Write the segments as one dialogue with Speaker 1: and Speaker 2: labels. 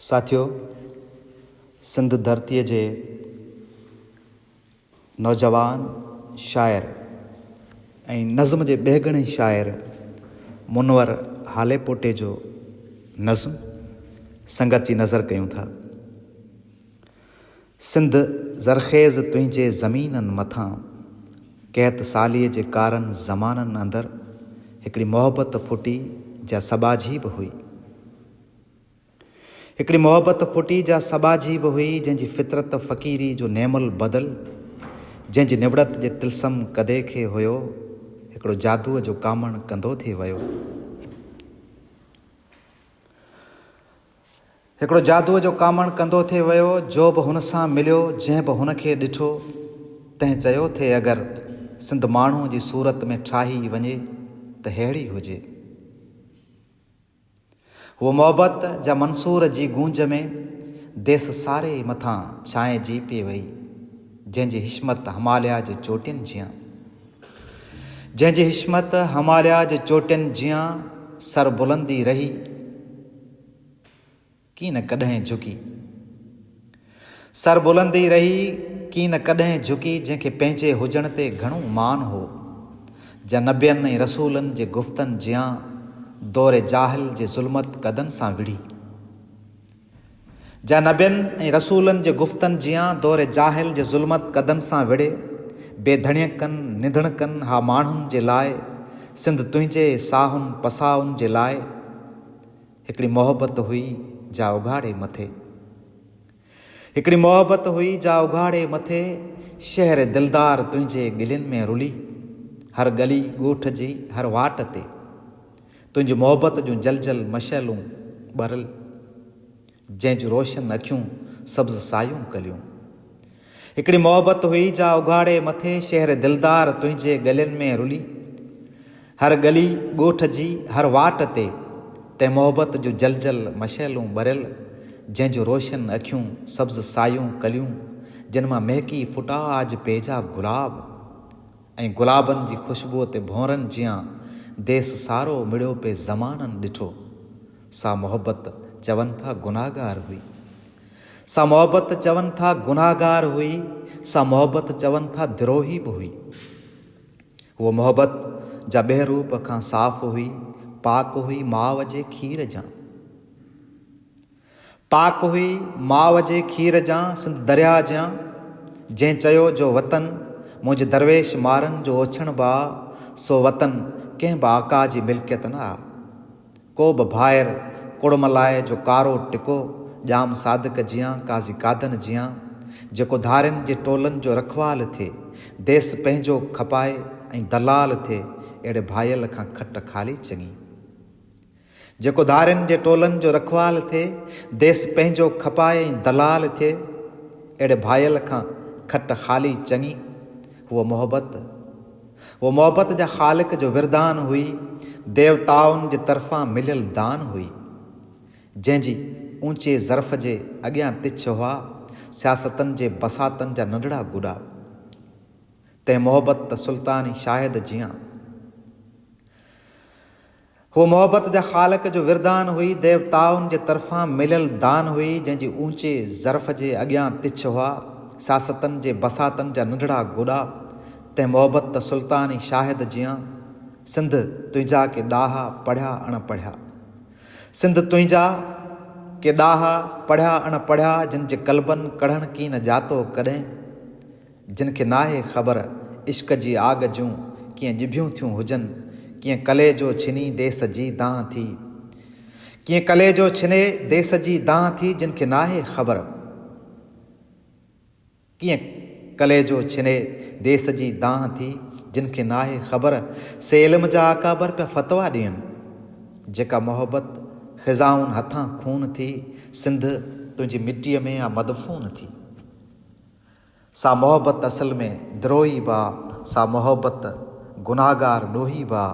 Speaker 1: ساٿيو! سنڌ ڌرتيء جي نوجوان شاعر ۽ نظم جي ٻيهگڻي شاعر منور هاليپوٽي جو نظم سنگت جي نظر ڪيون ٿا. سنڌ زرخيز تنهنجي زمينن مٿان قحط ساليء جي ڪارن زمانن اندر هڪڙي محبت ڦٽي جا سٻاجهي به هئي. هڪڙي محبت ڦٽي جا سٻاجهي به هئي جنهن جي فطرت فقيري جو نعم البدل جنهن جي نوڙت جي طلسم قدي کي هيو هڪڙو جادوء جو ڪامڻ ڪندو ٿي ويو. هڪڙو جادوء جو ڪامڻ ڪندو ٿي ويو، جو به هن سان مليو، جنهن به هن کي ڏٺو، تنهن چيو ٿي اگر سنڌ ماڻهوء جي صورت ۾ ٺاهي وڃي ته ههڙي هجي. هو محبت جا منصور جي گونج ۾ ديس ساري مٿان ڇانئجي پئي وئي، جنهن جي حشمت هماليا جي چوٽين جيان. جنهن جي حشمت هماليا جي چوٽين جيان سربلندي رهي. ڪين ڪڏهن جهڪي. سر بلند ئي رهي، ڪين ڪڏهن جهڪي، جنهن کي پنهنجي هجڻ تي گهڻو مان هو، جا نبين ۽ رسولن جي گفتن جيان دور جاهل جي ظلمت قدن سان وڙهي. جا نبين ۽ رسولن جي گفتن جيان دور جاهل جي ظلمت قدن سان وڙهي، بي ڌڻيڪن، نڌڻڪن ها ماڻهن جي لاء، سنڌ تنهنجي ساهن پساهن جي لاء. هڪڙي محبت هئي جا اگهاڙي مٿي هڪڙي محبت هئي جا اگهاڙي مٿي شهر دلدار تنهنجي ڳلين ۾ رلي هر ڳلي ڳوٺ جي هر واٽ تي تنهنجي محبت جون جل جل مشعلون ٻرل جنهن جون روشن اکيون سبز سايون ڪليون هڪڙي محبت هئي جا اگهاڙي مٿي شهر دلدار تنهنجي ڳلين ۾ رلي هر ڳلي ڳوٺ جي هر واٽ تي تنهن محبت جون جل جل مشعلون ٻريل جنهن جون روشن اکيون سبز سايون ڪليون جن مان مهڪي ڦٽا آج پيجا گلاب ۽ گلابن جي خوشبوء تي ڀونرن جيان ديس سارو مڙيو پي زمانن ڏٺو سا محبت چون ٿا گناهگار هئي سا محبت چون ٿا گنهگار هئي، سا محبت چون ٿا دروهي به هئي. هوء محبت جا ٻه روپ کان صاف هئي، پاڪ هئي ماء جي کير جان. پاڪ هئي ماء جي کير جان، سنڌ درياء جيان. جنهن چيو جو وطن منهنجي درويش مارن جو اوڇڻ به آ، سو وطن ڪنهن به آقا جي ملڪيت نه آ. ڪو به ڀائر ڪڙملائي جو ڪارو ٽڪو ڄام صادق جيان قاضي قادن جيان جيڪو ڌارين جي ٽولن جو رکوال ٿئي ديس پنهنجو کپائي ۽ دلال ٿئي اهڙي ڀائيل کان کٽ خالي چڱي جيڪو ڌارين جي ٽولن جو رکوال ٿئي ديس پنهنجو کپائي ۽ دلال ٿئي اهڙي ڀائيل کان کٽ خالي چڱي هو محبت هوء محبت جا خالق جو وردان هئي، ديوتائن جي طرفان مليل دان هئي، جنهن جي اوچي ظرف جي اڳيان تڇ هئا سياستن جي بساطن جا ننڍڙا گوڏا. تنهن محبت ته سلطاني شاهد جيان. هوء محبت جا خالق جو وردان هئي، ديوتائن جي طرفان مليل دان هئي، جنهن جي اوچي ظرف جي اڳيان تڇ هئا، سياستن جي بساطن جا ننڍڙا گوڏا، تنهن محبت ته سلطان ئي شاهد جيان، سنڌ تنهنجا ڪي ڏاها، پڙهيا اڻ پڙهيا. سنڌ تنهنجا ڪي ڏاها، پڙهيا اڻ پڙهيا، جن جي قلبن ڪڙهڻ ڪين ڄاتو ڪڏهن. جن کي ناهي خبر عشق جي آڳ جون ڪيئن ڄڀيون ٿيون هجن ڪيئن ڪليجو ڇني ديس جي دانهن ٿي ڪيئن ڪليجو ڇني ديس جي دانهن ٿي جن کي ناهي خبر ڪيئن ڪليجو ڇني ديس جي دانهن ٿي جن کي ناهي خبر سي علم جا اڪابر پيا فتوا ڏين جيڪا محبت خزائن هٿان خون ٿي سنڌ تنهنجي مٽيء ۾ آ مدفون ٿي. سا محبت اصل ۾ دروهي با سا محبت گناهگار ڏوهي با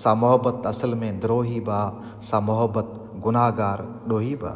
Speaker 1: سا محبت اصل ۾ دروهي با سا محبت گناهگار ڏوهي با.